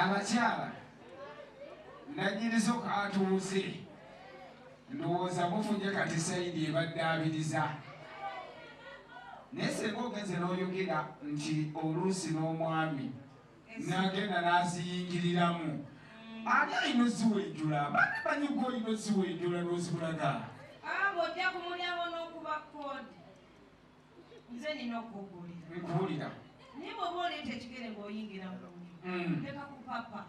abakyala nanyinizo katuuze ndowooza mufunye kati saidi ebaddaabiriza naye senga ogenze n'oyogera nti oluusi n'omwami nagenda n'aziyingiriramu ani alina oziwenjula bana banyuga olina oziwenjula n'ozibulaga abo ojja kumulyawo n'okuba kodi nze nina okukubuulira nkubuulira naye bwoba oleeta ekigere ng'oyingira mu nju mm. leka kupapa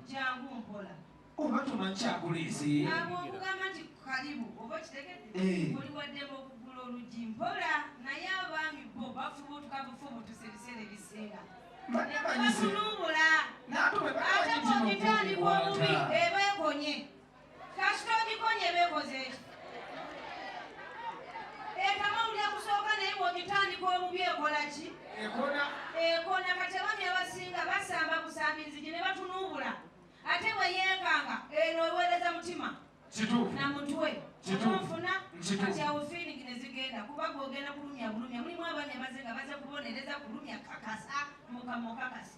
jangu mpola oba tumanyi kyakuleese abo okugamba nti kalibu oba kitegedde oli waddemu okugula oluggi mpola naye abaami bo bafuba otukabufubu tusebiseera ebisinga batulumbula ate bwogitandika obubi ebeekonye kasita ogikonye bekoze eki etama owulira kusooka naye bwogitandika obubi ekola ki ekona kati abami abasinga basamba kusambinzigi ne batunuubula ate bwe yeekanga eno eweereza mutima na mutwe omunfuna kati awo fiilingi ne zigenda kuba gwogenda kulumya bulumya mulimu abami abaze nga baze kubonereza kulumya kakasa mukama okakasa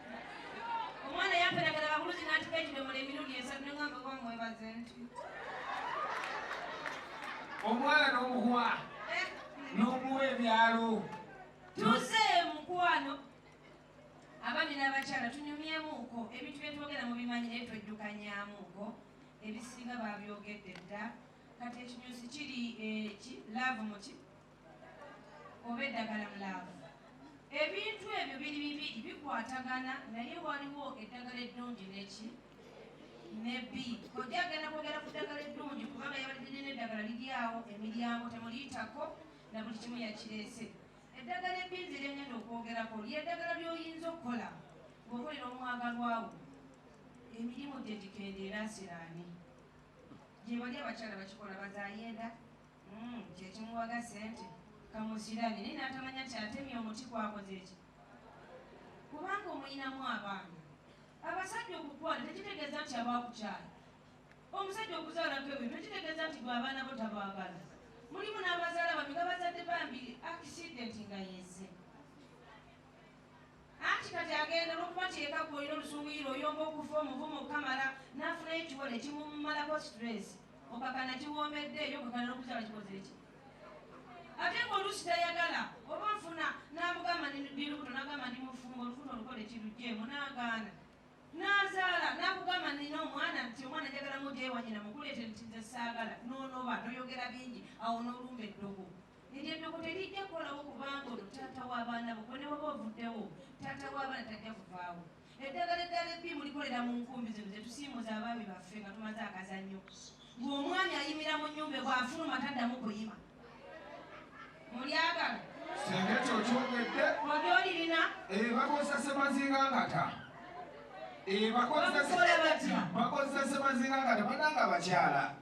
omwana yamperagala bakuluzi nanti kekidomola emirundi esatu nengamba kuba mwebaze nti omwana nomuwa eh? nomuwa ebyalo tuze mukwano abami n'abakyala tunyumyemuuko ebintu byetwogera mu bimanyi naye tweddukanyamuuko ebisinga babyogedde dda kati ekinyusi kiri eki eh, laavu muki oba eddagala mu laavu. Ebintu ebyo biri bibiri bikwatagana naye waliwo eddagala eddungi neki nebi kojja agenda kwogera ku ddagala eddungi kubanga yabalidde nina eddagala liri awo emiryango temuliyitako na buli kimu yakireese eddagala ebbi nze lyengenda okwogerako lyeddagala lyoyinza okukola ngaokolera omwagalwawo emirimu gye gikendeera asiraani gyebali abakyala bakikola bazayenda Umm kyekimuwaga sente kamusilabye naye natamanya nti atemye omuti kwakozeki kubanga omuyinamu abaana abasajja okukwana tekitegeza nti abakukyala omusajja okuzalako ebintu tekitegeza nti gwe abaana bo tabagala mulimu nabazala bambi nga bazadde bambi akisidenti nga yeze Anti kati agenda olwokuba nti eka gwolina olusunguyira oyomba okufa omuvumu okukamala nafunayo ekiwo nekimumalako stress okakana kiwombedde eyo okakana nokuzala kikoze ki ate nga oluusi tayagala oba nfuna namugamba ndilubuto nagamba ndi mufumbo olufuta olukole kirujemu nagaana nazaala nakugamba nina omwana nti omwana njagala mujewanyina mukuleete nti nze saagala nonoba noyogera bingi awo nolumba eddogo Eryo eddogo terijja kukolawo kubanga ono taata w'abaana bo, gwe ne bw'oba ovuddewo, taata w'abaana tajja kuvaawo. Eddagala eddaala ebbiimu likolera mu nkumbi zino ze tusiimuza abaami baffe nga tumaze akazannyo. Ng'omwami ayimira mu nnyumba e bw'afuluma taddamu kuyima. Mulyagala? Singa ekyo okyogedde. Ojo olirina? Ebakozesa eh, semazinga ngata. Ebakozesa eh, semazinga ngata. Bananga abakyala.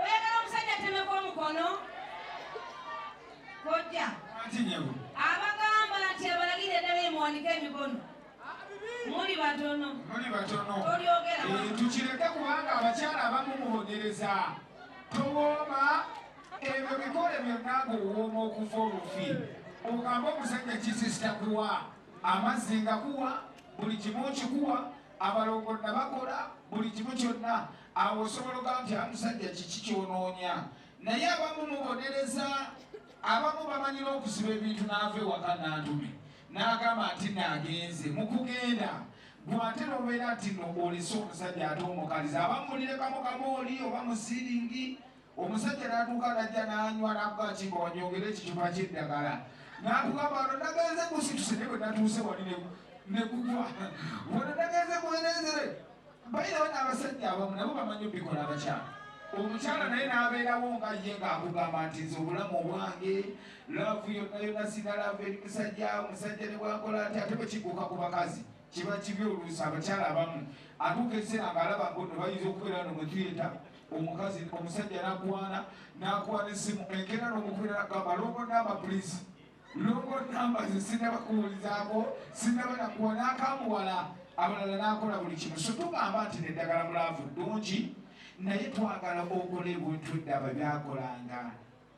oyagala omusajja atemeko omukono kojja abagamba nti abalagire eddala emuwanika emikono muli batono muli batono tolyogera eh, tukireke kubanga abakyala abamu mubonereza towooma ebyo bikole byonna ngaowooma okuva olufi ogamba omusajja kisisita kuwa amazzi nga kuwa buli kimu kikuwa abalongo nabakola buli kimu kyonna awo osobola ogaa nti amusajja kiki kyonoonya naye abamu mubonereza abamu bamanyira okusiba ebintu naava ewaka nantume nagamba nti nagenze mukugenda gwate nobeera nti no olese omusajja ate omukaliza abamu mulirekamu kamooli oba musiringi omusajja n'atuuka najja n'anywa n'akuba ki nga wanyongera ekicupa ky'eddagala n'atugamba wano nagenze kusituse naye bwe natuuse wali ne kugwa wano nagenze kuwenenzere bayirawo n'abasajja abamu nabo bamanyi obikola abakyala omukyala naye n'abeerawo nga ye ng'akugamba nti nze obulamu obwange laavu yonna yonna sina laavu eri musajja omusajja ne bwakola ati ate bwe kiguuka ku bakazi kiba kibi oluusi abakyala abamu atuuka ekiseera ng'alaba ngono bayinza okubeera no mwetuyeta omukazi omusajja nakwana nakwana esimu enkera nomukubira nagamba longo namba please longo namba ze sinaba kuwulizako sinaba nakuwa nakamuwala abalala nakola buli kimu so tugamba nti neddagala mulaavu ddungi naye twagala okola ebintu eddaba byakolanga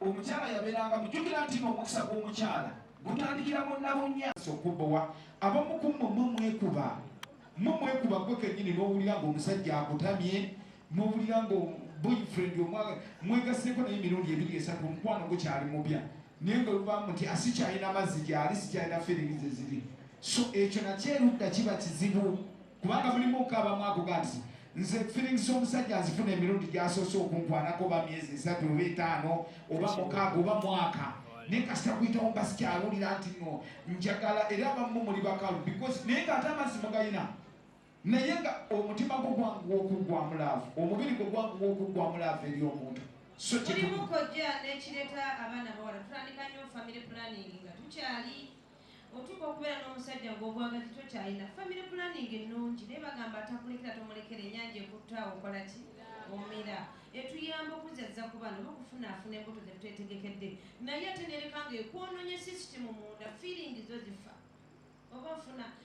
Omukyala yabeeranga mujjukira nti n'omukisa gw'omukyala gutandikira mu nabunnya okubowa abamu ku mmwe mwe mwekuba mwe mwekuba gwe kennyini n'owulira ng'omusajja akutamye n'owulira nga boyfriend omwaga mwegaseeko naye emirundi ebiri esatu omukwano gukyali mupya naye nga lubamu nti asikyalina ah, mazzi gyali sikyalina feelings eziri so ekyo nakyo erudda kiba kizibu kubanga mulimu okukaabamu ako kati nze feelings z'omusajja azifuna emirundi gyasoose okunkwanako oba myezi esatu oba etaano oba mukaaga oba mwaka naye kasita kuyitawo mba sikyawulira nti no njagala era abamu muli bakalu because naye nga ate amazzi mugayina naye nga omutima gwo gwanguwa okuggwamu laavu omubiri gwo gwanguwa okuggwamu laavu eri omuntu so kirimu kojja n'ekireeta abaana bawala tutandika nnyo family planning nga tukyali Otuuka okubeera n'omusajja ng'obwagazi tokyalina, family planning ennungi naye bagamba atakulekera tomulekera, enyanja ekutte awo okola ki? Omira. Etuyamba okuzzazza ku baana oba okufunaafuna embuto zetwetegekedde naye ate nereka nga ekwoononye system munda, feeling zo zifa oba ofuna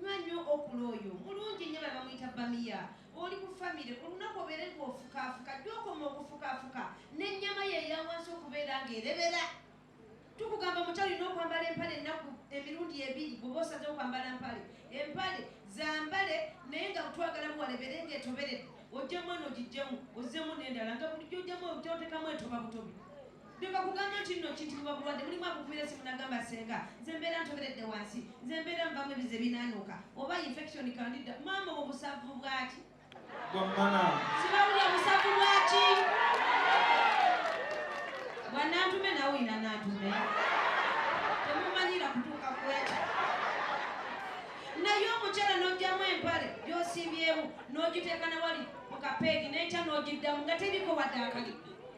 Nywa nyo okula oyo mulungi nyo babamuyita bamiya oli ku famire olunaku obeere nga ofukaafuka jja okoma okufukaafuka n'ennyama ye eyawansi okubeera nga erebera tukugamba muky olina okwambala empale ennaku emirundi ebiri bwoba osaze okwambala mpale empale zambale naye nga twagala buwalebere nga etoberedde ojjamu eno ogijjemu ozzemu n'endala nga bulijjo ojjamu okyotekamu etoba butobi Leka kugambyo kinno kitibwa bulwadde mulimu akukumira esimu nagamba senga nze mbeera ntoberedde wansi nze mbeera nvamu ebizi ebinaanuuka oba infection kandida maama obo busavu bwaki sibawulya busavu bwaki bwanantume nawe olina nantume temumanyira kutuuka kwekyo naye omukyala n'ojjamu empale gy'osimbyemu n'ogiteeka na wali mu kapeegi n'enkya n'ogiddamu nga teriko wadde akali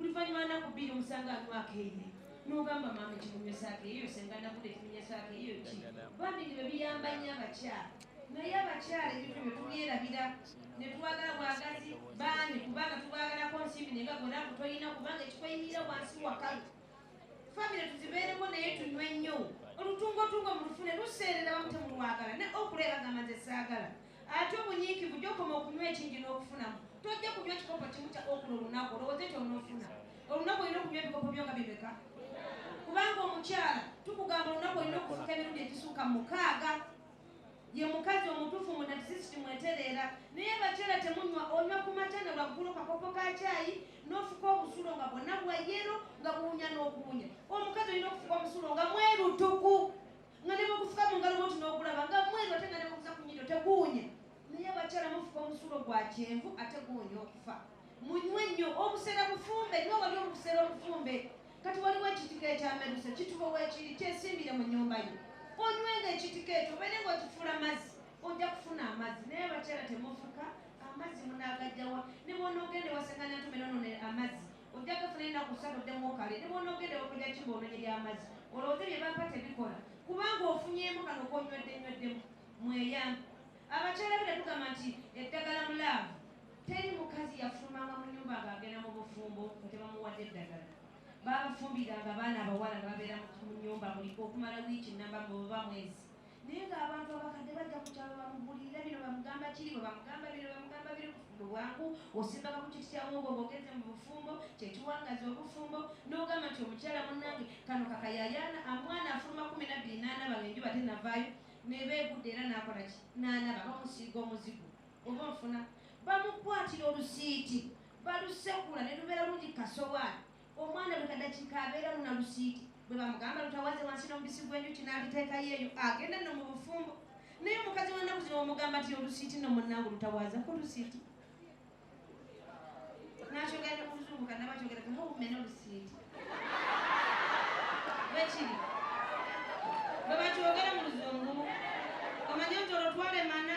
Oluvannyuma nnaku bbiri omusanga anywa akeeye n'ogamba maama ekimunywesa akeeyo senga nakuda ekimunyesa akeeyo ki bambi nge bebiyamba nnyo abakyala naye abakyala ebintu bye tubyerabira ne twagala bwagazi baani kubanga tubaagalako nsimbi nenga gona kutolina kubanga ekikweyiira wansi wakalu famire tuzibeereko naye tunywe nnyo olutungotungo mulufune luseerera bamutemulwagala ne okula ebagamba nze saagala Ate obunyiikivu gy'okoma okunywa ekingi n'okufunamu, tojja kunywa kikopo kimu kya okuna olunaku olowooze ky'onoofuna. Olunaku olina okunywa ebikopo byo nga bimeka? Kubanga omukyala tukugamba olunaku olina okufuka emirundi egisuuka mukaaga. Ye mukazi omutuufu mu natisisi kimwetereera. Naye abakyala temunywa, onywa ku makya na lwaggulo kakopo ka kyayi n'ofuka obusulo nga bwonna bwa yero nga buwunya n'okuwunya. Omukazi olina okufuka omusulo nga mwerutuku. nga ne bwegufuka mu ngalo bwoti n'ogulaba nga mweru ate nga ne bweguza ku nyido teguwunya naye abakyala mufuka omusulo gwa kyenvu ate guwunya okufa munywe nnyo obusera bufumbe nyo wali obusera obufumbe kati waliwo ekitika ekyameruse kitubo wekiri kyesimbire mu nyumba yo onywe nga ekitika ekyo obeere nga okifuula mazzi ojja kufuna amazzi naye abakyala temufuka amazzi munagajjawa ne bwonaogenda wasangana ntumera none amazzi Ojja kufuna ennaku ssatu oddemu okale ne bw'onoogenda ew'okulya kimba ononye ly'amazzi olowooze bye bampa tebikola kubanga ofunyeemu kano k'onywedde nnyweddemu mweyambe. Abakyala be tetugamba nti eddagala mu laavu. Teri mukazi yafulumanga mu nnyumba ng'agenda mu bufumbo nga tebamuwadde eddagala. Baabafumbiranga abaana abawala ne babeera mu nnyumba buli okumala wiiki nnamba oba mwezi Naye nga abantu abakadde bajja ku kyalo bamubulirira bino bamugamba kiri bwe bamugamba bino bamugamba biri bufumbo bwangu osimbaka ku kiti kya muwogo ng'ogenze mu bufumbo kye kiwangaza obufumbo n'ogamba nti omukyala munnange kano kakayayaana amwana afuluma kumi nabbiri n'anaba ng'enjuba tenavaayo ne beegudde era n'akola ki n'anaba bamusiiga omuzigo oba onfuna bamukwatira olusiiti balusekula ne lubeera lungi kasowaani Omwana buli kadakiika abeeramu na lusiiti. Bwe bamugamba lutawaze wansi n'omubisi gw'enjuki n'aluteekayo eyo, agenda nno mu bufumbo. Naye omukazi wa nnaku zino omugamba nti olusiiti nno munnange lutawaza ku lusiiti. N'akyogera ne mu luzungu kannaba akyogera nti hoo mmena olusiiti. Bwe kiri. Bwe bakyogera mu luzungu, omanye nti olwo twalemana.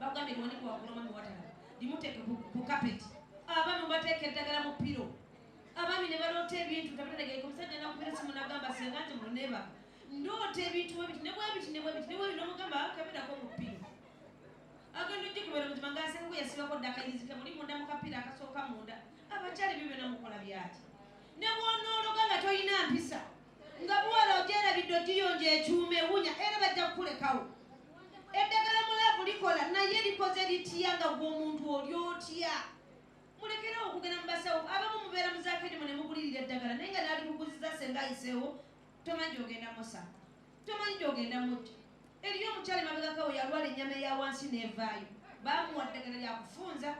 bagambye liwani kuwagula omwami watala limuteeke ku kapeti abaami mubateeka eddagala mu piro abaami ne baloota ebintu tabategeeka omusajja nakubira simu nagamba singa nti muneba ndoota ebintu webiti nebwebiti nebwebiti nebwebi nomugamba kabirako mu piro agenda ojja kubera mutima ngasengu yasibako ddakayizike muli munda mu kapiira akasooka munda abakyali byo byona mukola byaki nebwonoologa nga tolina mpisa Nga muwala ogyerabidde ogiyonja ekyuma ewunya era bajja kukulekawo. Eddagala mu laavu likola naye likoze litya nga gwe omuntu oli otya? Mulekerewo okugenda mu basawo abamu mubeera mu zaakedimu ne mugulirira eddagala naye nga naalikuguziza senga ayiseewo tomanyi gyogenda musa tomanyi gyogenda mujja. Eriyo omukyala emabegakawo yalwala ennyama eya wansi n'evaayo baamuwa ddagala lya kufunza.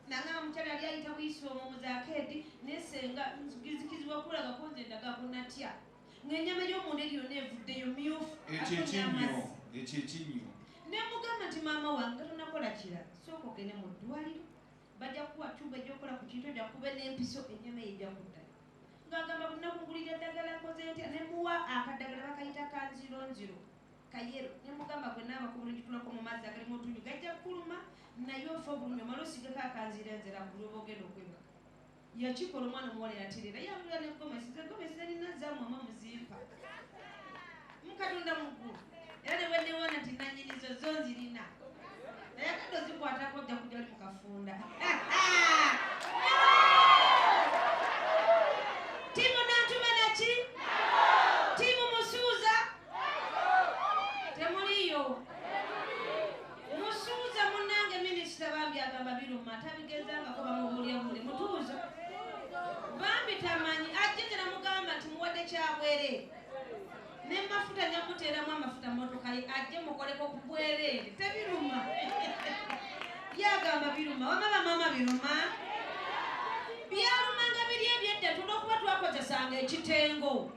Nanga mukyala yali ayita buyisi omwo mu zakeedi ne ssenga nzikizibwa kulagako nze ndagako natya ng'ennyama y'omunda eri yonna evuddeyo myufu ekyo ekinnyo ekyo ekinnyo ne mugamba nti maama wange nga tonakola kira sooka ogende mu ddwaliro bajja kukuwa cuba egyokukola ku kintu ojja kuba n'empiso ennyama eyo ejja kuddayo ng'agamba bunaku ngulira eddagala nkoze ntya ne muwa akaddagala bakayita kanzironziro kayero nemugamba gwe naaba kubulungi kulako mu mazzi agalimu otunyu gajja kukuluma naye ofe obulumi omala osigeko akanziira enzera kugulu oba ogenda okwebaka yakikola omwana omuwala yaterera yangula ne gomesi ze gomesi zalina zamwama muzimpa mukatonda mugulu era ne bwenewona nti nanyinizo zo nzirina naye akadde ozikwatako ojja kujja oli mukafunda temuliyo musuuza munange minisita bambi agamba biruma tabigezangako bamubuulira buli mutuuza bambi tamanyi ajje tenamugamba nti muwadde kyabwere nemafuta nyamuteeramu amafuta motoka ye ajje mukoleko kubwereere tebiruma yagamba biruma wama bamama biruma byalumanga biri ebyedda tulina okuba twakozesanga ekitengo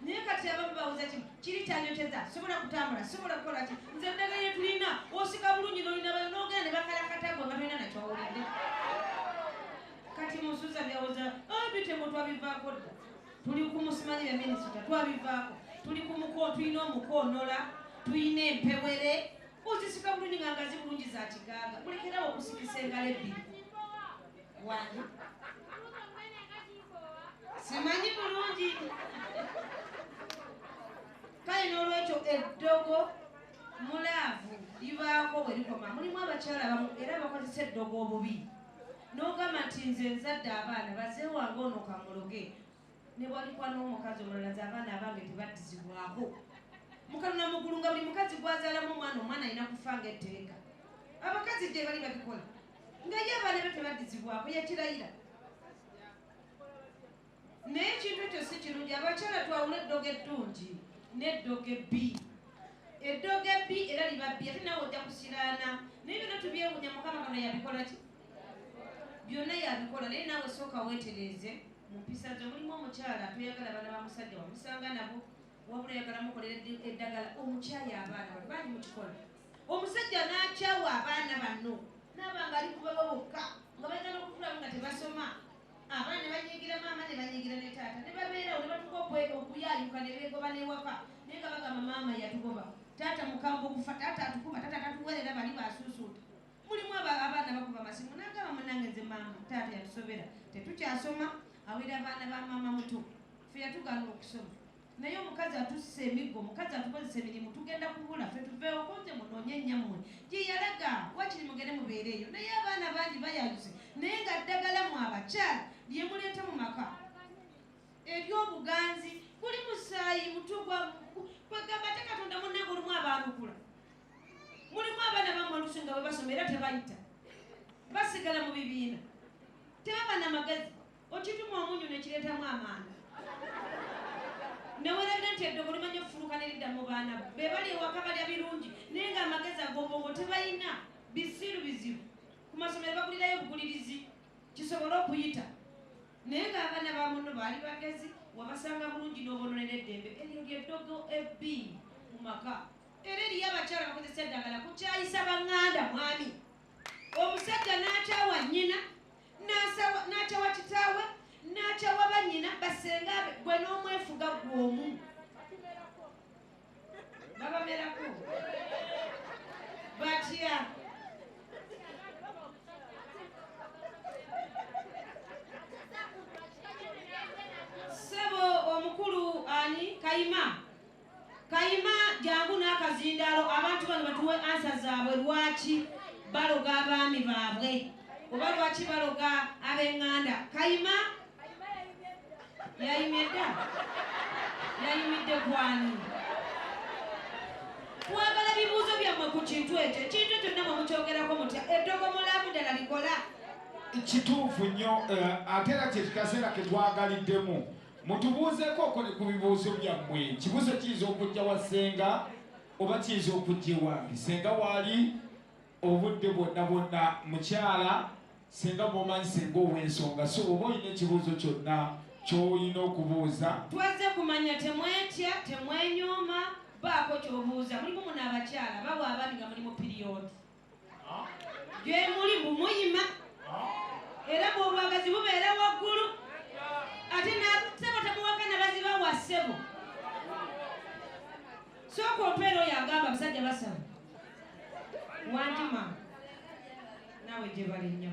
naye kati abamu babuza kimu kiri kyanyoteza sobola kutambula sobola kukola ki nze eddagala lye tulina osika bulungi nolina bayo nogenda ne bakalakata gwe nga tolina nakyowulidde kati musuza byawoza ah, bitemu twabivaako dda tuli ku musimanyire minisita twabivaako tuli ku muko tulina omukoonola tulina empewere ozisika bulungi nga ngazi bulungi za kiganga mulekerawo okusikisa engalo ebbiri wani simanyi bulungi kale n'olwekyo eddogo mulaavu libaako bwe likoma mulimu abakyala bamu era bakozesa eddogo obubi n'ogamba nti nze nzadde abaana bazeewange ono kamuloge ne bwalikwa n'omukazi omulala ze abaana abange tebaddizibwako mukaluna mugulu nga buli mukazi gwazalamu omwana omwana alina kufa nga etteeka abakazi gye bali babikola nga ye abaana be tebaddizibwako yakirayira naye ekintu ekyo si kirungi abakyala twawula eddogo eddungi n'eddogo ebbi eddogo ebbi era liba bbi ate nawe ojja kusiraana naye byonna tubyewunya mukama kano yabikola ki byonna yabikola naye naawe sooka weetereeze mu mpisa zo mulimu omukyala toyagala abaana ba musajja wamusanga nabo wabula yagala mukolera eddagala omukyayi abaana bangi mukikola omusajja n'akyawa abaana banno naaba nga ali kubabo bokka nga balina n'okukulamu nga tebasoma abaana ne banyigira maama ne banyigira ne taata ne babeerawo ne batuka okuyayuka ne beegoba n'ewaka naye nga bagamba maama yatugoba taata mukambwe okufa taata atukuba taata tatuwerera bali basuusuuta mulimu abaana bakuba amasimu nagamba munange nze maama taata yatusobera tetukyasoma awera abaana ba maama muto fe yatugaana okusoma Naye omukazi atussa emiggo, omukazi atukozesa emirimu, tugenda kubula ffe tuveewo ko nze munoonye nnyammwe gye yalaga wakiri mugende mubeere eyo. Naye abaana bangi bayayuse naye nga ddagala mu abakyala lye muleeta mu maka ery'obuganzi kuli musaayi mutu gwa kwegamba ate katonda munnange olumu abaanukula mulimu abaana bamu olusi nga bwe basoma era tebayita basigala mu bibiina tebaba na magezi Okituma omunyu ne kireetamu amanda. Nneweredde nti eddogo limanya okufuluka ne lidda mu baana bo. Be bali ewaka balya birungi naye ng'amagezi ag'obwongo tebalina. Bisiru bizibu. Ku masomero bagulirayo bukulirizi kisobole okuyita. Naye ng'abaana ba munno baali bagezi, wabasanga bulungi n'oboononera eddembe. Eryo lye ddogo ebbi mu maka. Era eriyo abakyala bakozesa eddagala kukyayisa bang'anda mwami, omusajja n'akyawa nnyina. n'akyawa kitaawe n'akyawa bannyina basenga be gwe n'omwefuga gwomu babamerako batya sebo omukulu ani kayima Kayima jangu nakazindalo abantu bano batuwe answer zabwe lwaki baloga abaami babwe oba lwaki baloga abenganda kayima yayimye da yayimidde kwani twagala bibuuzo byammwe ku kintu ekyo ekintu ekyo namwe mukyogerako mutya eddogo mulamu ddala likola kituufu nnyo eh, ate era kyekikaseera ketwagaliddemu Mutubuuzeeko kuli ku bibuuzo byammwe. Ekibuuzo kiyinza okujja wa ssenga oba kiyinza okujja ewange. Ssenga waali obudde bwonna bwonna. Mukyala ssenga mwomanyi ssenga ow'ensonga so oba olina ekibuuzo kyonna ky'olina okubuuza. Twazze kumanya temwetya, temwenyooma, baako ky'obuuza. Mulimu muno abakyala bawa abaami nga muli mu piriyodi. gyemuli mbu muyima era bwobwagazi bubeera waggulu ate nasebo temuwakana baziba wa sebo sooka ompeera oyo agamba abasajja basaba wantima nawe gyebali nnyo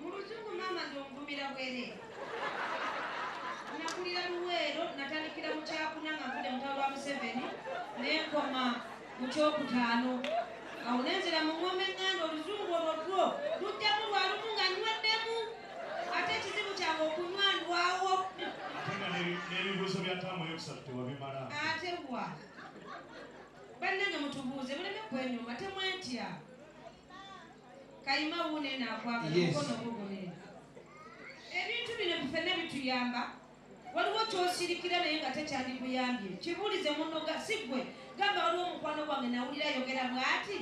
Mulujugu mama nze onvumira bwere. Nakulira luweero natandikira mu kyakuna nga nvudde mutalo wa Museveni nenkoma mu kyokutaano awo nenzira mu ng'oma eng'anda oluzungu olwo lwo lujjamu lwa lumu nga nyweddemu ate ekizibu kyange okunywa ndwawo n'ebibuuzo bya taamu eyokusatu tewabimala ate wa bannange mutubuuze muleme kwenyuma temwentya kayima wuuno eno akwagala mukono ogugune ebintu bino bifena bituyamba waliwo kyosirikira naye nga tekyandikuyambye kibuulize munoga si gwe gamba waliwo omukwano gwange nawulira ayogera bwati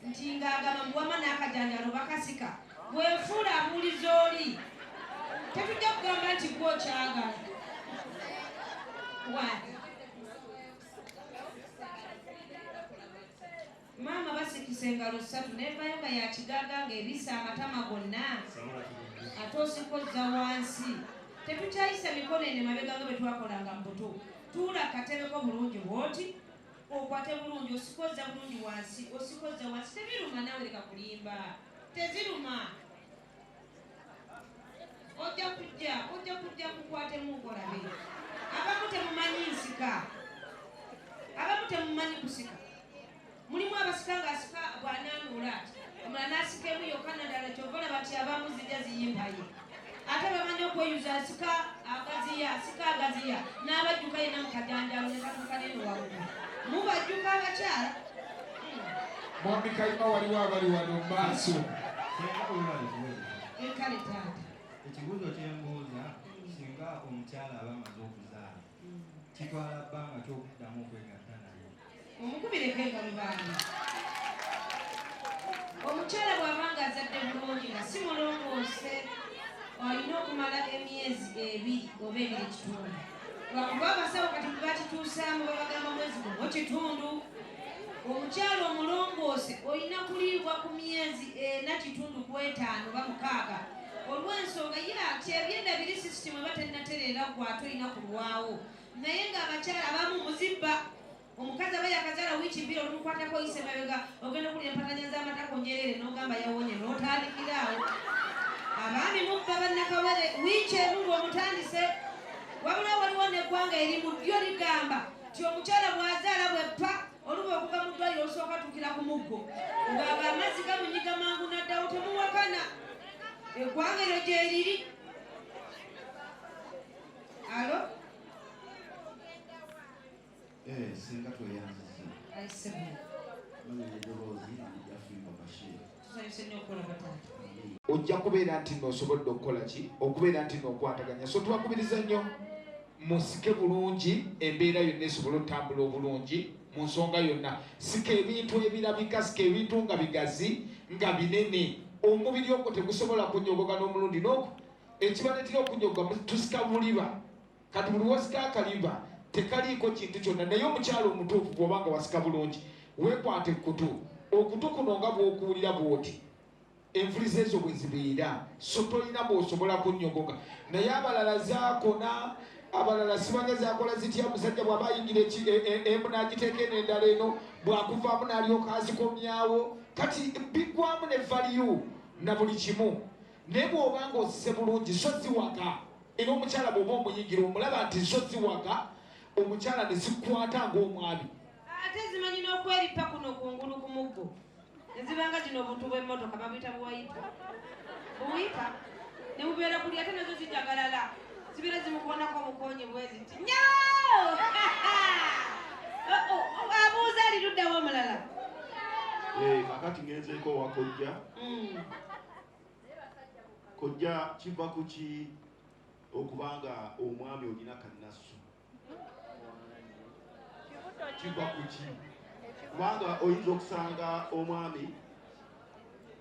nti ngaagamba muwama n'akajanjalo bakasika bwefuula abuuliza oli tetujja kugamba nti gwe okyagala wani Maama basikisa engalo ssatu nevayo nga yakigaga nga ebisa amatama gonna ate osikozza wansi tetukyayisa mikono ene mabega nga bwetwakolanga mu buto tuula katebeko bulungi bwoti okwate bulungi osikozza bulungi wansi osikozza wansi tebiruma nawe leka kulimba teziruma ojja kujja ojja kujja kukwatemu ogolabe abamu temumanyi nsika abamu temumanyi kusika mulimu abasika ngaasika bwananula omula nasikemu yokka nadala kyova olaba nti abamu zijja ziyimbaye ate bamanyi okweyuza asika agaziya asika agaziya n'abajjuka yena mukajanjalo nekatukaneno wawu mubajjuka abakyala Mwami Kayima waliwo abali wano mu maaso. Kale taata. Ekibuuzo kye mbuuza singa omukyala aba amaze okuzaala mm. kitwala bbanga ki okuddamu okwegatta naye? Omukubireko engalo baana. Omukyala bw'aba ng'azadde bulungi nga si mulongoose olina okumala emyezi ebiri oba ebiri kitundu. Lwakuba abasawo kati bwe bakituusaamu babagamba mwezi gumu kitundu. omukyala omulongoose olina kuliibwa ku myezi ena kitundu ku etaano oba mukaaga olw'ensonga ye kyebyenda biri sisitimu eba tennatereera gwe ate olina kulwawo naye ng'abakyala abamu muzibba omukazi aba yakazaala wiiki bbiri olumukwatako oyise mabega ogenda okulira empatanya z'amatako nyerere n'ogamba yawonye n'otandikira awo abaami mubba bannakawere wiiki emu ng'omutandise wabula waliwo n'eggwanga eri mu ddyo ligamba ti omukyala bwazaala bweppa oluba okuva mu ddwaliro olusooka tukira ku muggo ng'ago amazzi gamunyiga mangu naddawo temuwakana eggwanga eryo gyeriri alo eh, singa tweyanziza Tusanyuse nnyo okulaba taata. ojja kubeera nti no osobodde okukola ki okubeera nti nokwataganya so twakubiriza nnyo musike bulungi embeera yonna esobole otambula obulungi mu nsonga yonna sika ebintu ebirabika sika ebintu nga bigazi nga binene omubiri ogwo tegusobola kunyogoga n'omulundi noku ekibaletera okunyogoga tusika buliba Kati buli wasika akaliba tekaliiko kintu kyonna, naye omukyala omutuufu bw'oba nga wasika bulungi, weekwata ekkutu, okutu kuno nga bw'okuwulira bw'oti envuliza ezo bwe zibeera, so tolina bw'osobola kunnyogoga. Naye abalala zaakona, abalala sibanga zakola zitya, musajja bw'aba ayingira e- e- emu n'agiteeka eno endala eno, bw'akuvaamu n'alyoka azikomyawo. Kati biggwamu ne valiyu na buli kimu. Naye bw'oba ng'ozize bulungi so si waka, era omukyala bw'oba omuyingira omulaba nti zo si waka, omukyala ne zikwata ng'omwami. Ate zimanyi n'okwerippa kuno kungulu ku muggo ne ziba nga gino obuntu bw'emmotoka babuyita buwayipa buwipa ne bubeera kuli ate nazo zijagalala zibeera zimukoonako obukonyi bweziti nyo oh, oh, oh, abuuza aliruddawo omulala kakati ngenzeeko wakojja mm. kojja kiva kuki okuba nga omwami olina kannasu kiva kuki kubanga oyinza okusanga omwami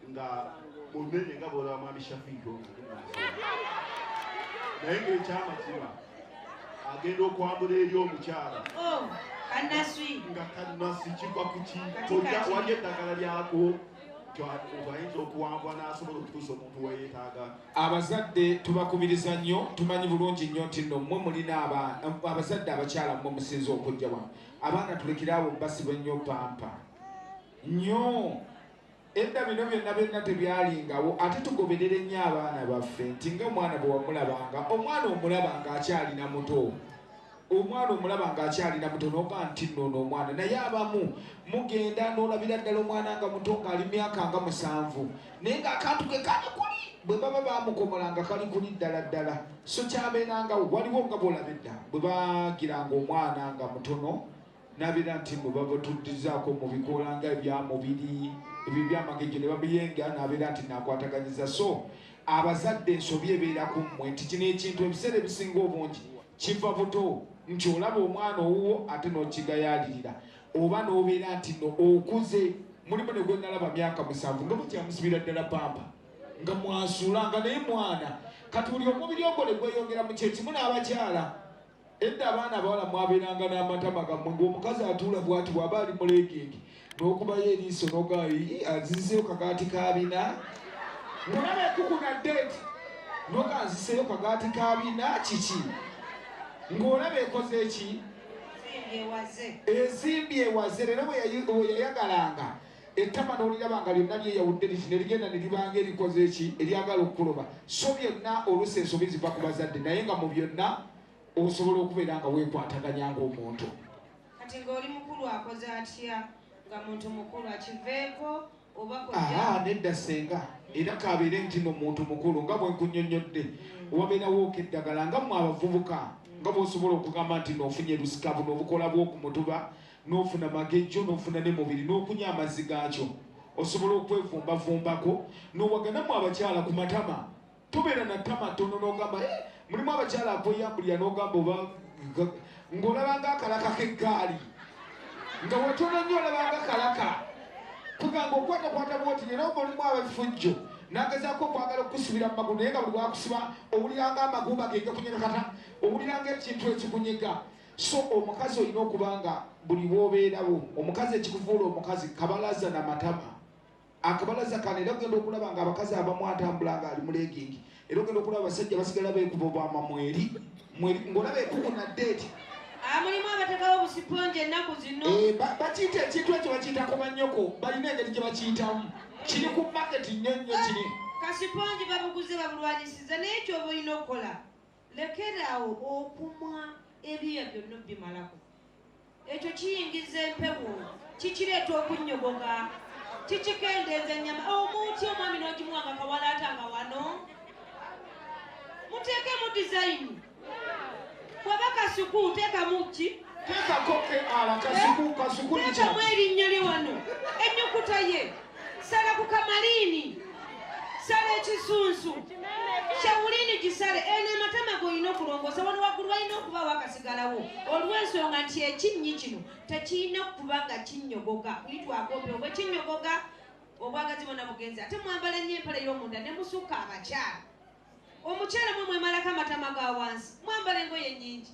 nga munene nga bola mwami shafiiki naye ngaekyamazima agenda okwambula eri omukyala oh, nga kanasi kiva kuki wali eddagala lyako ayinza okuwangwa n'asobola okutuusa omuntu weyetaaga abazadde tubakubiriza nnyo tumanyi bulungi nnyo nti no mwe mulina abazadde abakyala mwe musinza okujja wa abaana tulekere awo basibwe nnyo pampa nnyo edda bino byonna byonna tebyalingawo ate tugoberere nnyo abaana baffe nti nga omwana bwe wamulabanga omwana omulabanga akyalina muto omwana omulaba ng'akyalina muto noga nti noono omwana naye abamu mugenda n'olabira ddala omwana nga muto ng'ali myaka nga musanvu naye ng'akantu ke kali kuli bwe baba bamukomola nga kali kuli ddala ddala so kyabeeranga waliwo nga bwolaba edda bwe bagiranga omwana nga mutono nabeera nti mwe babatuddizaako mu bikoola nga ebyamubiri ebyo byamagejjo ne babiyenga nabeera nti nakwataganyiza so abazadde ensobi ebeera ku mmwe nti kino ekintu ebiseera ebisinga obungi Kiva buto nti olaba omwana owuwo ate nokigayalirira oba nobeera nti no okuze mulimu ne gwenalaba myaka musanvu nga mukyamusibira ddala pampa nga mwasuula nga naye mwana kati buli omubiri ogwo ne gweyongera mu kyekimu n'abakyala edda abaana abawala mwabeeranga n'amatama gammwe ng'omukazi atuula bwati bwaba ali muleegenge n'okubayo eriiso nogayi azizeyo kagaati kabina mulaba ekuku na date noga aziseyo kagaati kabina kiki ng'olaba ekoze eki ezimbi ewaze lero weyayagalanga ettama n'oliraba nga lyonna lyeyawudde liti ne ligenda ne libanga erikoze eki eryagala okukuloba so byonna oluusi ensobi ziva ku bazadde naye nga mu byonna osobola okubeera nga weekwataganya ng'omuntu Kati nga oli mukulu akoze atya nga muntu mukulu akiveeko oba kojja? Aa nedda ssenga era kabeere nti no muntu mukulu nga bwe nkunyonnyodde mm. wabeerawo okeddagala nga mwe abavubuka nga bwosobola okugamba nti nofunye lusika buno obukola bwokumutuba nofuna magejjo nofuna ne mubiri nokunya amazzi gaakyo osobola okwevumbavumbako nowaganamu abakyala ku matama Tubeera na tama tono nogamba eh, mulimu abakyala akweyambulira nogamba oba ng'olabanga akalaka k'eggaali nga wetono nnyo olabanga kalaka kugamba okwatakwata bwoti nera oba olimu abafujjo nagezaako okwagala okukusibira mu magulu naye nga buli wakusiba owuliranga amagumba gegakunyega kata owuliranga ekintu ekikunyega so omukazi olina okuba nga buli wobeerawo omukazi ekikuvuula omukazi kabalaza na matama Akabalaza kano era ogenda okulaba nga abakazi abamu atambula nga ali mulegingi era ogenda okulaba abasajja basigala beekuba obwama mweri mweri ng'olaba ekuku na deeti amulimu abatekawo obusiponje ennaku zino eh, bakiyita ekintu ekyo bakiyita ku banyoko balina engeri gye bakiyitamu kiri ku maketi nnyo nnyo kiri kasiponje babuguze babulwanyisiza naye kyoba olina okukola Lekeraawo okumwa ebyoya byonna obimalako. Ekyo kiyingiza empewo, kikireeta okunnyogoga, kikikendeeza ennyama. Omu otya omwami n'ogimuwa nga kawalaata nga wano? Muteekemu dizayini. Bw'aba kasuku teekamu ki? Kitamu erinnya lye wano ennyukuta ye sala ku kamaliini sala ekisunsu shawuliini gisale eno ematama golina okulongoosa wano waggulu walina okubaawo akasigalawo olw'ensonga nti ekinnyi kino tekirina okuba nga kinnyogoga kulitwagobe oba ekinnyogoga obwagazi bona bugenzi ate mwambala nnyo empale y'omunda ne musukka abakyala omukyala mwe mwemalako amatama ga wansi mwambala engoye nnyingi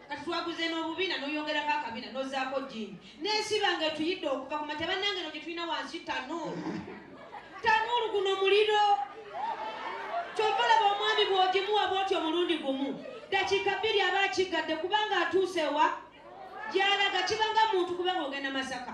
kati twaguze n'obubina noyongerako akabina nozaako jini nesiba nga etuyidde okuva ku makya bannange no gye tulina wansi tanuulu tanuulu guno muliro kyova laba omwami bwogimuwa bwoti omulundi gumu dakiika bbiri aba akiggadde kubanga atuuse wa gyalaga kibanga muntu kubanga ogenda masaka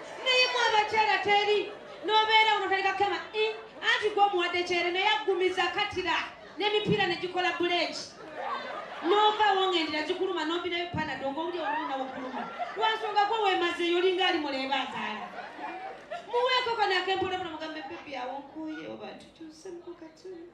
naye mu abakyala teri nobeera ono taleka kema eh, anti gwe omuwadde kyere naye aggumiza katira n'emipiira ne gikola buleeki nova wongendera gikuluma nombinayo panado ngaowuli oluuna wokuluma lwansonga gwe wemazeyo olinga ali muleeba azaala muweeko kanaakempolabula mugambe bebi awonkuye oba tukyusemuko katuna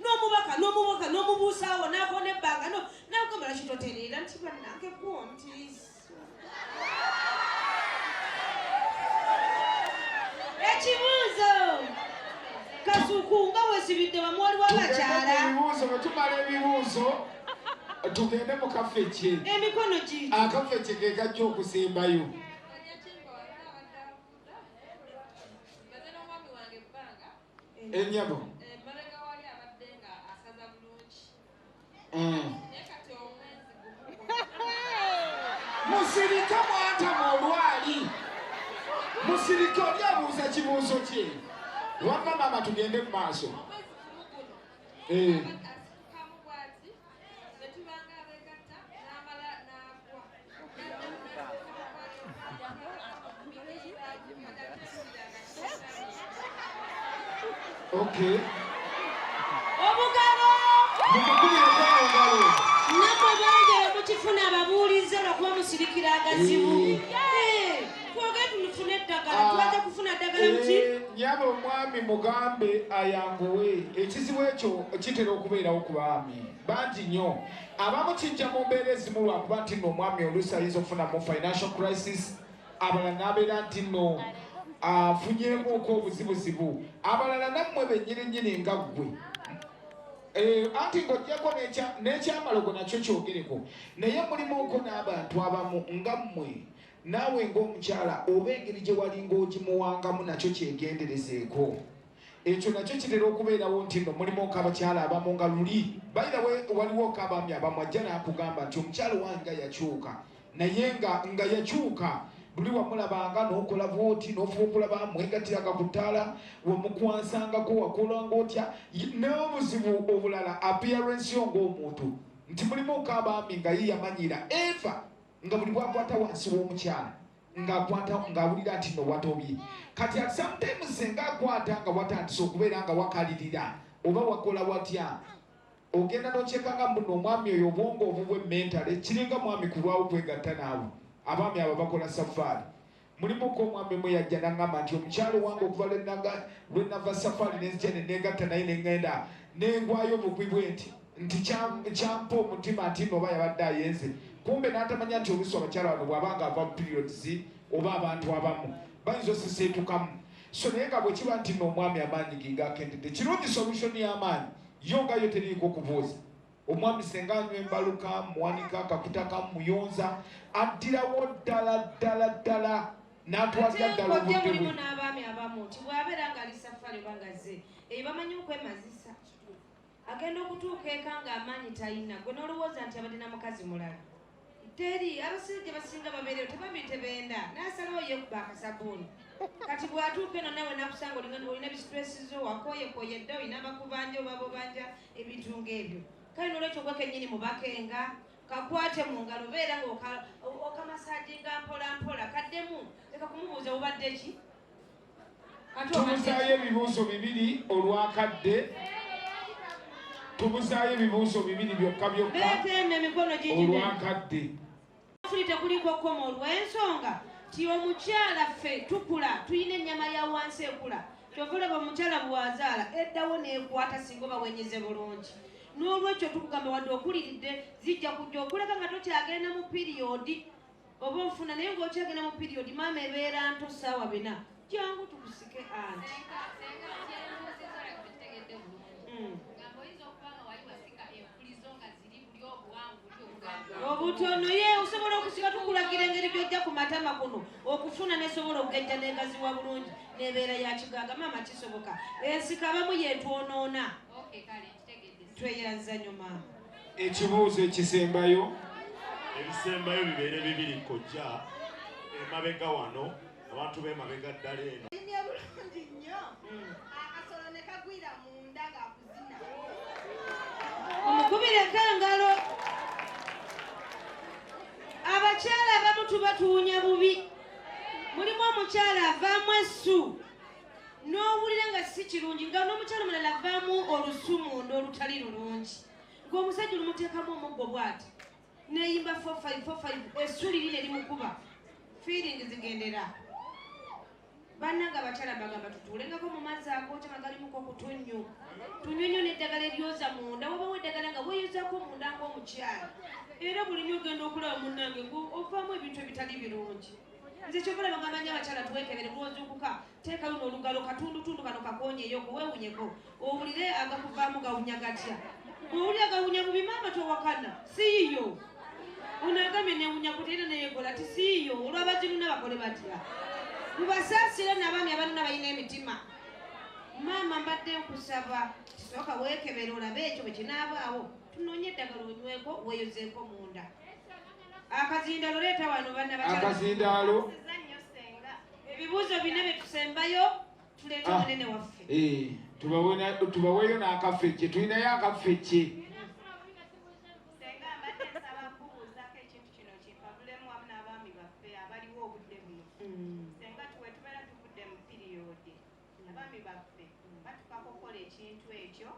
n'omubaka n'omubuuka n'omubuusaawo n'akoona ebbanga no n'agamba laki totereera nti bannange gwo nti ekibuuzo kasuku nga wesibidde wamu waliwo abakyala ebibuuzo bwe tumala ebibuuzo tugende mu kafeki emikono gi akafeki ke kajja okusimbayo enyabo mm. musirike mwantama olwali musirike oli abuuza kibuuzo kye wamma maama tugende mu maaso eh. Bwetubanga abegatta n'amala n'agwa. Okay. Obugalo! Namwe bangi mukifuna ababuulizza lwakuba musirikira agazibu. nyaba omwami mugambe ayanguwe ekizibu ekyo kitera okubeerawo ku baami bangi nnyo abamu kijja mu mbeera ezimu lwakuba nti no omwami oluusi ayinza okufuna mu financial crisis abalala n'abeera nti no afunyemuuko obuzibuzibu abalala nammwe bennyininyini nga ggwe Eh, anti ng'ogyeko n'ekyamalogo nakyo kyogereko naye mulimuko n'abantu abamu nga mmwe Naawe ng'omukyala oba engeri gye walinga ogimuwangamu nakyo kyegenderezeeko. Ekyo nakyo kitera okubeerawo nti nno mulimu ok'abakyala abamu nga luli by the way waliwo ok'abaami abamu ajja n'akugamba nti omukyala owange nga yakyuka naye nga nga yakyuka luli wamulabanga n'okola bwoti n'ofuba okulaba mwegatiraga ku ttaala wamukwansangako wakolanga otya n'obuzibu obulala appearance yo ng'omuntu nti mulimu ok'abaami nga ye yamanyira eva nga buli bwakwata wansi w'omukyala ng'akwata ng'awulira nti no watobye kati at sometimes senga akwata nga watandise okubeera nga wakalirira oba wakola watya ogenda nokyeka nga mbuno omwami oyo obwongo obubwe mentale kiringa mwami kulwawo kwegatta naawe abaami abo bakola safaari Mulimuko omwami mu yajja n'aŋŋamba nti omukyala owange okuva lwe nava safaali ne nzija ne neegatta naye ne ŋŋenda ne ngwayo bugwi bwe nti nti kyampa omutima nti nno oba yabadde ayenze kumbe n'atamanya nti oluusi abakyala bano bw'aba nga ava mu periods oba abantu abamu bayinza osiseetukamu so naye nga bwe kiba nti nno omwami amaanyi ge gaakendedde kirungi solution y'amaanyi yo nga yo teriiko kubuuza Omwami senga anywa embaluka muwanika akakuta kamuyonza addirawo ddala ddala ddala n'atwalira ddala obudde bwe n'abaami abamu nti bw'abeera ng'ali safari oba ngazze eyo bamanyi okwemazisa agenda okutuuka eka ng'amaanyi talina gwe n'olowooza nti abadde na mukazi mulala teri abasajja basinga babeereyo tebambi tebenda nasalawo yekuba akasabuuni kati bwatuuka eno nawe nakusanga olina bisitresizo wakoyekoye dda olina bakubanja obabobanja ebintu ngaebyo kale nolwekyo gwe kenyini mubakenga kakwate mu ngalo beera ngaokamasajinga mpolampola kaddemu leka kumubuuza obadde ki tubuzaayo ebibuuzo bibiri olwakadde tubuzaayo ebibuuzo bibiri byokka byokka olwakadde fuli tekuliko koma olw'ensonga ti omukyala ffe tukula tulina ennyama ya wansi ekula kyova olaba omukyala bwazaala eddawo neekwata singa oba wenyeze bulungi n'olwekyo tukugamba wadde okuliridde zijja kujja okuleka nga tokyagenda mu piriyodi Oba ofuna naye nga okyagenda mu period maama ebeera nto saawa bina jangu tukusike anti hmm. obutono ye osobola okusika tukulagira engeri gyojja ku matama kuno okufuna nesobola okugejja negaziwa bulungi nebeera ya kigaaga maama kisoboka ensika abamu yetwonoona tweyanza nyo maama ekibuuzo ekisembayo ebisembayo bibeere bibiri kojja emabega wano abantu bemabega ddala eno omukubireko engalo abakyala abamu tuba tuwunya bubi mulimu omukyala avaamu essu n'owulira nga si kirungi nga n'omukyalo mulala avaamu olusumu n'olutali lulungi ng'omusajja olumuteekamu omuggo bwati neyimba 4545 essuuli lino erimukuba fiiringi zigendera bannanga abakyala bagamba tutuulengako mu mazzi agoota nga galimuko kutunnyu tunywe nyo n'eddagala eryoza munda wabawo eddagala nga weeyozako munda ng'omukyala era buli nyo ogenda okulaba munnange ng'ovaamu ebintu ebitali birungi nze kyokola bagamba nyo abakyala twekebere mwozukuka teeka luno olugalo katundutundu kano kakonyeyo kuwewunyeko owulire agakuvaamu gawunya gatya owulire gawunya mu bimaama towakana siiyo onagamye newunya kuteera neyekola ti siiyo olwabazinuna bakole batya mubasaasire nabaami abanuna balina emitima maama mbadde nkusaba kisooka wekebere olabe ekyo bwekinaabaawo tunonye eddagala onyweko weyozeeko munda Akazindaalo leeta wano banna bakyala. Akazindaalo. Ebibuuzo bina bye tusembayo tuleete ah. munene waffe. Eh, tubaweeyo n'akafecce tulinayo akafecce. Abaami baffe batukako okukola ekintu ekyo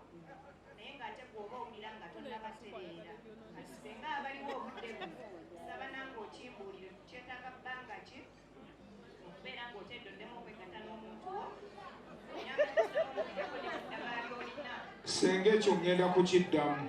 naye ng'ate gweoba owulira nga tonabatereera kati senga abaliwo obudde bu saba nange okimbuulire tukyetaaga bbanga ki okubeera ng'otedde oddemu okwegatta n'omuntu wo senga ekyo ŋŋenda kukiddamu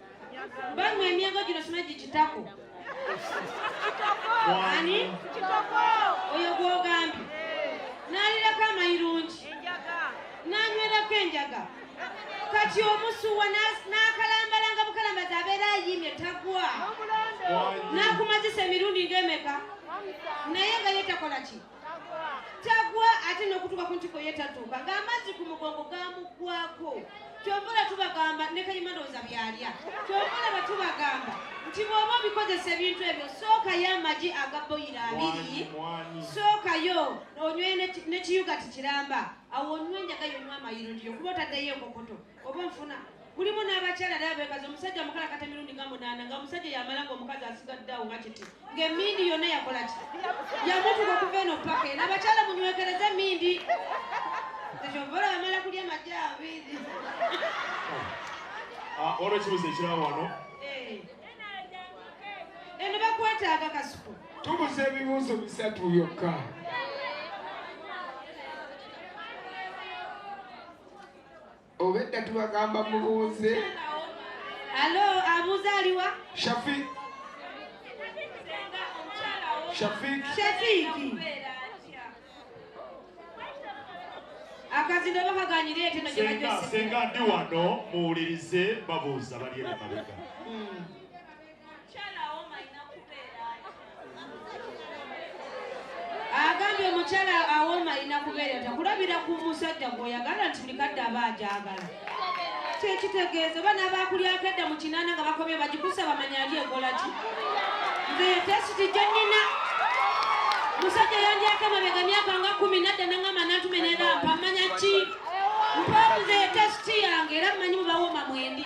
Bamwe emyego gino sima gikitako. Ani? Kitoko. Oyo gwogambye. Nalirako amayirungi. Enjaga. Nanywerako enjaga. Kati omusuwa n'akalambala nga bukalambazi abeera ayimye tagwa. N'akumazisa emirundi ng'emeka. Naye nga ye takola ki? tagwa ate n'okutuuka ku ntiko ye tatuuka ng'amazzi ku mugongo gamuggwako kyovula tubagamba ne kayima ndowooza byalya kyovula bwe tubagamba nti bw'oba obikozesa ebintu ebyo sookayo amagi aga boyiro abiri sookayo onywe nekiyuga tikiramba awo onywe enjaga yonywa amayiro ndiyo kuba otaddeyo enkokoto oba nfuna kulimu n'abakyala era beekaza omusajja mukalakata emirundi nga munaana nga omusajja yamala nga omukazi asigadde awo nga kiti ng'emmindi yonna yakola ki yamutuka okuva eno paka eno abakyala munywekereze emmindi ekyovoola bamala kulya amagye abiri ah, olwo ekibuzo ekirawo wano eh. eno bakwetaaga kasuku tubuza ebibuuzo bisatu byokka obedda tubagamba mubuuze alo abuuza aliwa shafik shafik shafiki akazino bakaganyira ekyo nakyebajose senga ndi wano muwulirize babuuza bali emabega hmm. agambye omukyala awooma alina kubeera ta kulabira ku musajja gweoyagala nti buli kadde aba agyagala kyekitegeeza oba n'abaakulyako edda mu kinaana nga bakomye bagikusa bamanya ali ekola ki nze yetesiti gye nnina musajja yandyako emabega myaka nga kumi nadda nangamba nantume nerampa manya ki mpaabuze yetesiti yange era mmanyi mubawooma mwendi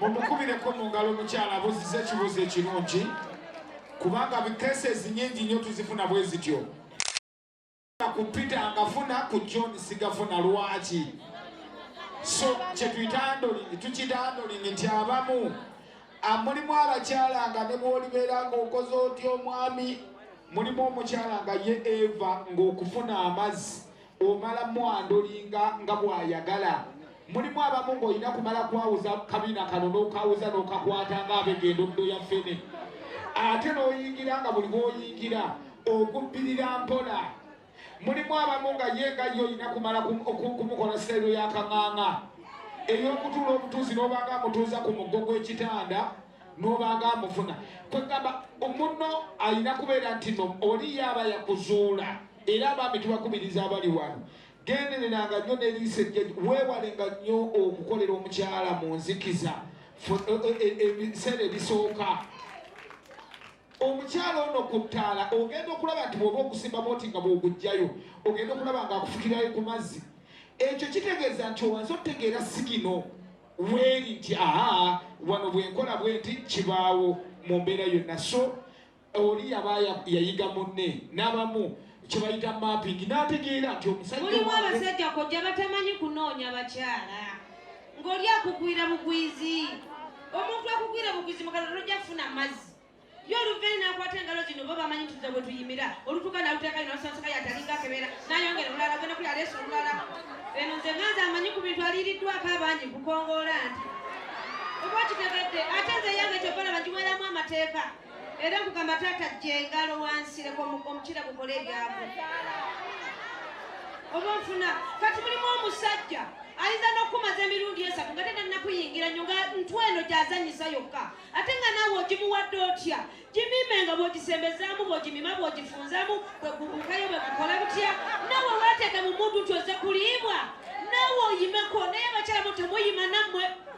mumukubireko mu ngalo omukyala abuziza ekibuuzo ekirungi kubanga bikeses nyingi nnyo tuzifuna bwe zityo ku peter ngafuna ku john sigafuna lwaki so kyetuyita andolingi tukiyita andolingi nti abamu mulimu abakyala nga ne bwolibeera ngaokoze otya omwami mulimu omukyala nga ye eva ngaokufuna amazzi Omala mwandolinga nga bw'ayagala. Mulimu abamu ng'olina kumala kwawuza kabina kano n'okawuza n'okakwata ng'abega endoddo ya ffene. Ate n'oyingira nga buli bw'oyingira ogubbirira mpola. Mulimu abamu nga ye nga ye olina kumala kumukola sitayiro ya kaŋaŋa ey'okutuula obutuuzi n'obanga amutuuza ku muggo gw'ekitanda n'obanga amufuna. Kwegamba omunno alina kubeera nti no oli ye aba yakuzuula. Era abaami tubakubiriza abali wano, gendereranga nnyo ne liiso ejjeju, weewalenga nnyo okukolera omukyala mu nzikiza ebiseera ebisooka. Omukyala ono ku ttaala ogenda okulaba nti bw'oba ogusimba bwoti nga bw'oguggyayo ogenda okulaba ng'akufukirayo ku mazzi. Ekyo kitegeeza nti owanze otegeera sigino weeri nti aha wano bwe nkola bwenti kibaawo mu mbeera yonna so oli yaba yayiga munne n'abamu kyebayita mapping n'ategeera nti omusajjamulimu abasajja kojja batamanyi kunoonya bakyala ng'oli akugwira bugwizi omuntu akugwira bugwizi mukala tojja kufuna mazzi yo oluveni nakwata engalo zino bo bamanyi tuza bwe tuyimira olutuka naluteeka ino olusansaka yatalinga akebeera nayongera olulala genda kuli aleesa olulala eno nze nganza amanyi ku bintu aliiriddwako abangi kukongoola nti oba kitegedde ate nze yange kyobala bagiweeramu amateeka era kugamba taata jengalo wansireko omukira gukole ebyamu oba nfuna kati mulimu omusajja ayinza n'okukumaza emirundi esatu nga tena nakuyingira nyo nga ntu eno gyazanyisa yokka ate nga naawe ogimuwadde otya gimime nga bwogisembezaamu bwogimima bwogifunzamu bwegubukayo bwegukola butya naawe weteeka mu muntu nti oze kuliibwa naawe oyimeko naye abakyalamu temuyima nammwe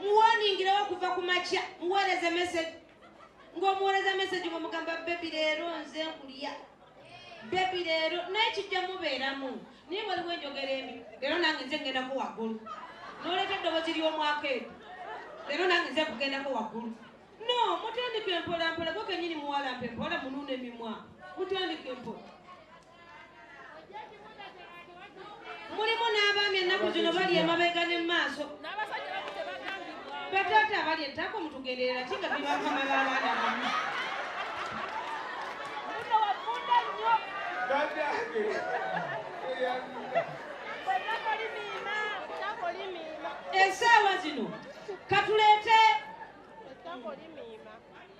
muwoningirewo okuva ku makya muweereze mesegi ng'omuweereza mesegi nga mugamba bebi leero nze nkulya bebi leero naye kijja mubeeramu naye waliwo enjogera emi leero nange nze ngendako waggulu noleeta eddobozi ly'omwaka edo leero nange nze kugendako waggulu no mutandika empolampola gwo kenyini muwalampa empola munuuna emimwa mutandika empola mulimu n'abaami ennaku zino bali emabega ne maaso bataata abali ettako mutugenderera ki nga bibakama b'abaana bamu esaawa zino katuleete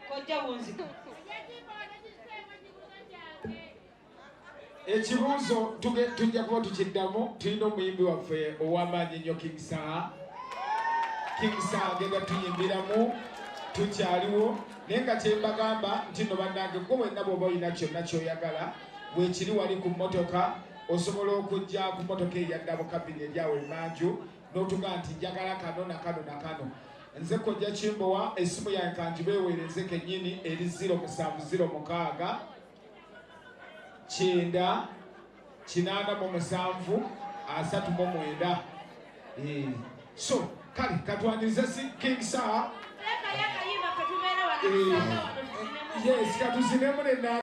kojja wunzika ekibuuzo tujja kuba tukiddamu tulina omuyimbi waffe ow'amaanyi ennyo king saha king saha agenda tuyimbiramu tukyaliwo naye nga kyembagamba nti no bannange gwe wenna bwoba olina kyonna kyoyagala wekiri wali ku mmotoka osobola okujja ku mmotoka eyadda mu kabini eryawo emanju notuga nti njagala kano nakano nakano nze kojja kimbowa esimu yange kanjibeewereze kenyini eri 0706 kyenda kinaana mu musanvu asatu mu mwenda eh, so kale katwanirize si king saa eh, yes katuzinemu nena